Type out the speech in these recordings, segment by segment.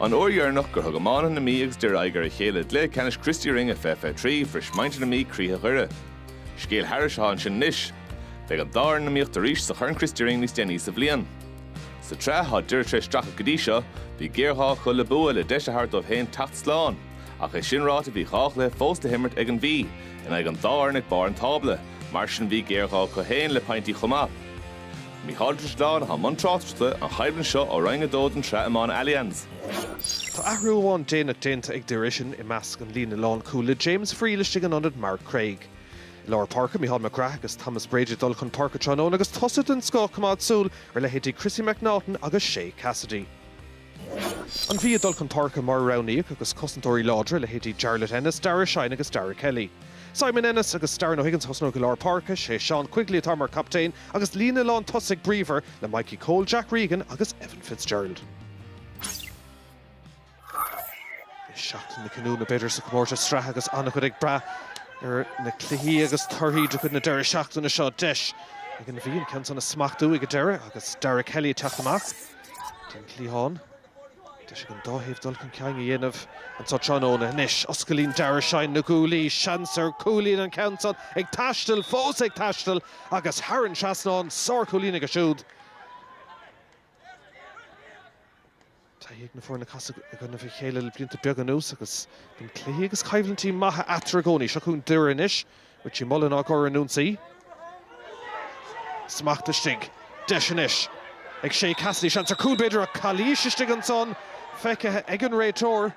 An uair dheireanach gur thug iománaithe na Mí agus Doire aghaidh ar a chéile i gcluiche ceannais Christy Ring 2023, bhris muintir na Mí croíthe Dhoire. Scéal thairis atá ansin anois. Beidh an dá fhoireann in iomaíocht arís sa Chorn Christy Ring níos déanaí sa bhliain. Sa tsraith, tá Doire tar éis streachailt go dtí seo, bhí géarghá acu le bua le deis a thabhairt dóibh féin teacht slán. Ach é sin ráite, bhí dhá chluiche fós le himirt ag an Mhí, in aghaidh an dá fhoireann ag barr an tábla, mar sin bhí géarghá acu féin le pointí chomh maith. Mícheál Ó Drisleáin atá i mbun tráchtaireachta an choimhlint seo ó Roinn 2 den Sraith Iomána Allianz. Tá athrú amháin déanach déanta ag Doire, sin i measc an líne lánchúil le James Friel istigh in ionad Mark Craig. I lár páirce, Micheál McGrath agus Thomas Brady ag dul chun páirce tráthnóna agus tosaithe den scoth, coimeád súil ar leithéidí Chrissy McNaughton agus Shea Cassidy. An Mhí ag dul chun páirce mar a roghnaíodh agus cosantóirí láidre, leithéidí Jarlath Ennis, Daire Shine agus Darragh Kelly. Simon Ennis agus Darren O'Higgins a thosnóidh i lár páirce, sé Sean Quigley atá mar captaen agus líne lán tosaigh bríomhar le Mikey Cole, Jack Regan agus Evan Fitzgerald. Beidh seachtain na cinniúna b'fhéidir sa chomórtas sraithe agus an-chuid ag brath ar na cluichí agus torthaí de chuid na deireadh seachtaine seo. Deis ag an Mhí an ceann san a smachtú ag an deireadh agus Darragh Kelly ag teacht amach. den chliathán. Deis ag an dá thaobh dul chun cinn a dhéanamh anseo tráthnóna. Anois oscailíonn Daire Shine na guaillí. Seans ar chúilín an ceann san. Ag taisteal, fós ag taisteal agus thar an trasnán. Sárchúilín aige siúd. Taithí ag na foirne casadh i gcoinnibh a chéile le blianta beaga anuas agus bíonn cluichí agus coimhlintí maithe eatarthu i gcónaí. Seo chugainn Doire anois. Richie Mullan á gcur in ionsaí. Smacht istigh. Deis anois ag Shea Cassidy. Seans ar chúl, b'fhéidir, ach calaois istigh ansan feicthe ag an réiteoir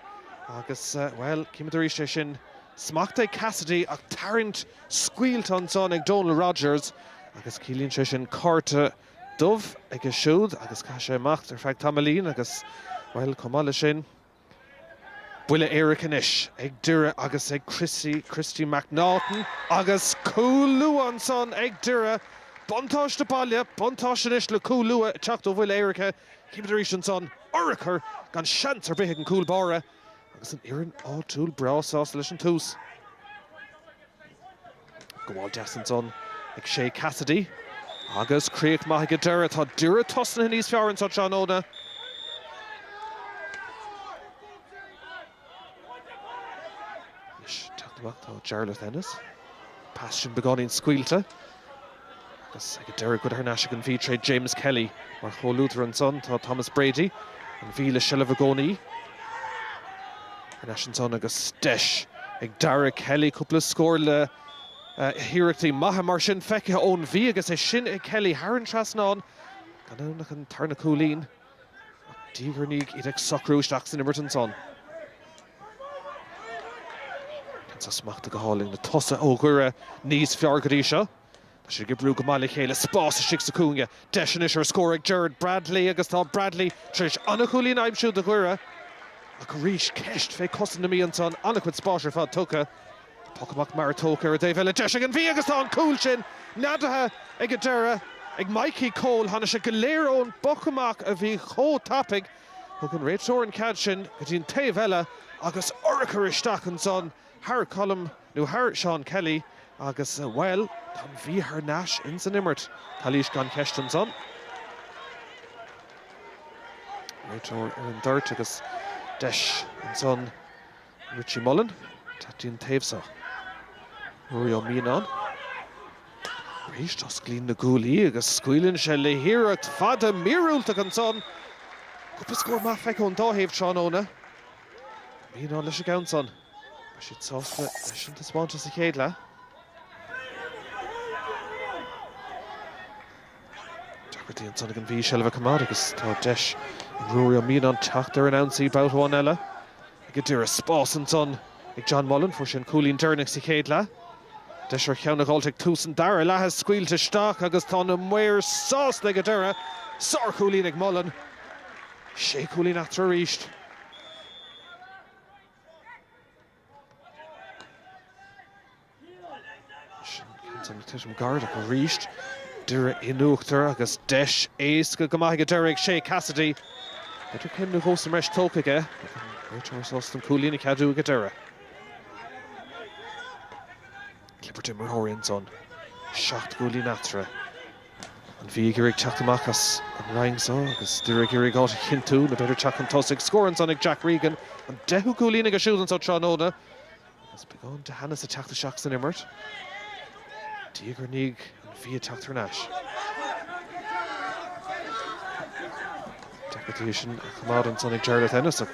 agus, bhuel, címid arís é sin. Smacht ag Cassidy ach tarraingt scaoilte ansan ag Donal Rogers agus ciallaíonn sé sin cárta dubh aige siúd agus caithfidh sé imeacht ar feadh tamaillín agus, bhuel, chomh maith leis sin, Buille éirice anois ag Doire agus ag Chrissy, Christy McNaughton agus cúl luath ansan ag Doire. Buntáiste baile, buntáiste anois le cúl luath ag teacht ó bhuille éirice. Címid arís ansan, urchar gan seans ar bith ag an gcúl báire agus an fhoireann áitiúil breá sásta leis an tús. Gabháil deas ansan ag Shea Cassidy agus críoch maith ag an deireadh. Tá Doire tosnaithe níos fearr anseo tráthnóna. Anois teacht amach atá Jarlath Ennis. Pas sin beagáinín scaoilte. Agus ag an deireadh go thar n-ais ag an Mhí tréd James Kelly mar chomhluadar ansan tá Thomas Brady, an Mhí le seilbh i gcónaí. Thar n-ais ansan agus deis ag Darragh Kelly cúpla scór le hiarrachtaí maithe mar sin feicthe ón Mhí agus é sin ag Kelly thar an trasnán, gan ann ach an tarna cúilín. Ach diaidh ar ndiaidh iad ag socrú isteach san imirt ansan. Bhí san smachtaithe go hálainn, na tosaithe ó Dhoire níos fearr go dtí seo. Tá siad ag oibriú go maith le chéile, spás istigh sa chúinne. Deis anois ar scór ag Gerald Bradley agus tá Bradley tar éis an-chúilín a aimsiú do Dhoire. Ach arís, ceist fé cosaint na Mí ansan, an-chuid spáis ar fad tugtha. Poc amach mear tógtha ar an dtaobh eile. Deis ag an Mhí agus tá an cúl sin neadaithe ag an deireadh ag Mikey Cole. Tháinig sé go léir ón bpoc amach a bhí chomh tapaidh. Thug an réiteoir an cead sin go dtí an taobh eile agus urchar isteach ansan thar Colm, nó thar Sheán Kelly agus, bhuel, tá an Mhí thar n-ais ins an imirt. Calaois gan cheist ansan. Réiteoir ar an dtoirt agus deis ansan Richie Mullan, go dtí an taobh so. Ruairí Ó Mianáin, arís, osclaíonn na guaillí agus scaoileann sé le hiarracht fada míorúilteach ansan. Cúpla scór maith feicthe ón dá thaobh tráthnóna. Ó Mianáin leis an gceann san. Beidh siad sásta leis an taispeántas sa chéad leath. Deacrachtaí ansan ag an Mhí seilbh a choimeád agus tá deis ag Ruairí Ó Mianáin teacht ar an ionsaí babhta amháin eile. Ag an deireadh spás ansan ag John Mullan, fuair sé an cúilín deireanach sa chéad leath. Deis ar cheann a dh'fháilt ag tús an dara leatha scaoilte isteach agus tá na maoir sásta ag an deireadh. Sárchúilín ag Mullan. Sé chúilín eatarthu arís. Sin tuairim an Gharda arís. Doire in uachtar agus deis éasca go maith aige Doire ag Shea Cassidy. B'fhéidir céim nó dhó sa mbreis tógtha aige. Réiteoir sásta an cúilín a cheadú aige Doire. Clipper d'imreoirí ansan. Seacht gcúilín eatarthu. An Mhí ag iarraidh teacht amach as an roinn seo agus Doire ag iarraidh áit a chinntiú, nó b'fhéidir teacht chun tosaigh. Scór ansan ag Jack Regan, an deichiú cúilín aige siúd anseo tráthnóna. Agus beagán de theannas ag teacht isteach san imirt, diaidh ar ndiaidh an Mhí ag teacht thar n-ais. Deacair í sin a choimeád ansan ag Jarlath Ennis ach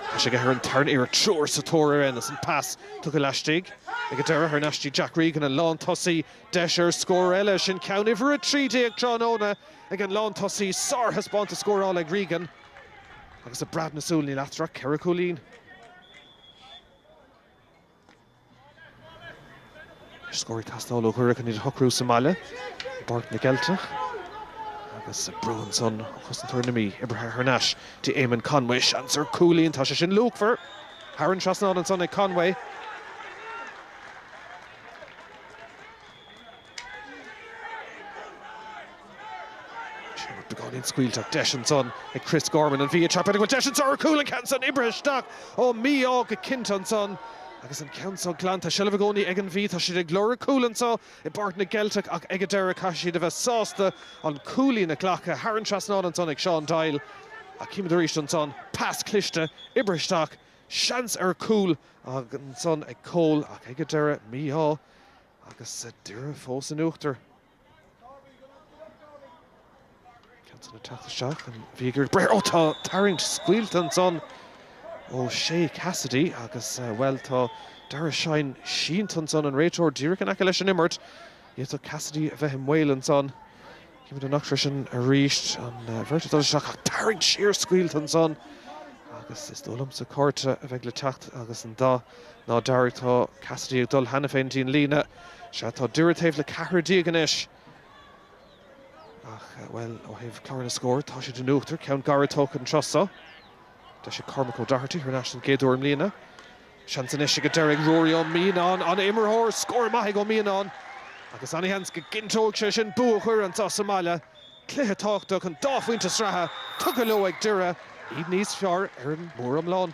tá sé aige ar an tarna uair, triúr sa tóir ar Ennis, an pas tugtha laistigh ag an deireadh thar n-ais dtí Jack Regan, an lán tosaí, deis ar scór eile. Sin ceann uimhir a trí déag tráthnóna ag an lán tosaí, sár-thaispeántas scórála ag Regan agus i bpreab na súl níl eatarthu ach ceithre chúilín. Scór ag teastáil ó Dhoire chun iad a shocrú sa mbaile i bPáirc na gCeilteach agus brú ansan ó chosantóir na Mí. Oibrithe thar n-ais d'Éamonn Conway. Seans ar chúilín, tá sé sin luachmhar! Thar an trasnán ansan ag Conway. Sé pas beagáinín scaoilteach, deis ansan ag Kris Gorman, an Mhí, ag teip air, an bhfuil deis anso ar chúl, an ceann san oibrithe isteach ó mí-ádh go cinnte ansan agus an ceann so glanta, seilbh i gcónaí ag an Mhí, tá siad ag lorg cúl anso i bPáirc na gCeilteach ach ag an deireadh caithfidh siad a bheith sásta an cúilín a ghlacadh, thar an trasnán ansan ag Seán Doyle ach címid arís ansan pas cliste, oibrithe isteach, seans ar chúl ansan ag Cole ach ag an deireadh, mí-ádh. Agus tá Doire fós in uachtar. Johnson ag teacht isteach, an Mhí ag iarraidh breith, ó tá tarraingt scaoilte ansan ó Shea Cassidy agus, bhuel, tá Daire Shine sínte ansan, an réiteoir díreach in aice leis an imirt. D'fhéadfadh Cassidy a bheith i mbaol ansan. Címid an eachtra sin arís, an bheirt ag dul isteach ach tarraingt siar scaoilte ansan agus is dóigh liomsa cárta a bheidh le teacht agus an dath ná dearg. Tá Cassidy ag dul cheana féin dtí an líne. Sea, tá Doire taobh le ceathrar déag anois ach, bhuel, ó thaobh clár na scór, tá siad in uachtar, ceann gairid tógtha an tráth so. Deis ag Cormac O'Doherty thar n-ais don gcéad uair i mbliana. Seans anois ag Doire ag Ruairí Ó Mianáin, an t-imreoir scór maith ag Ó Mianáin agus ana-sheans go gcinnteoidh sé sin bua Dhoire anso sa mbaile. Cluiche tábhachtach an dá phointe sraithe tugtha leo ag Doire, iad níos fearr ar an móriomlán.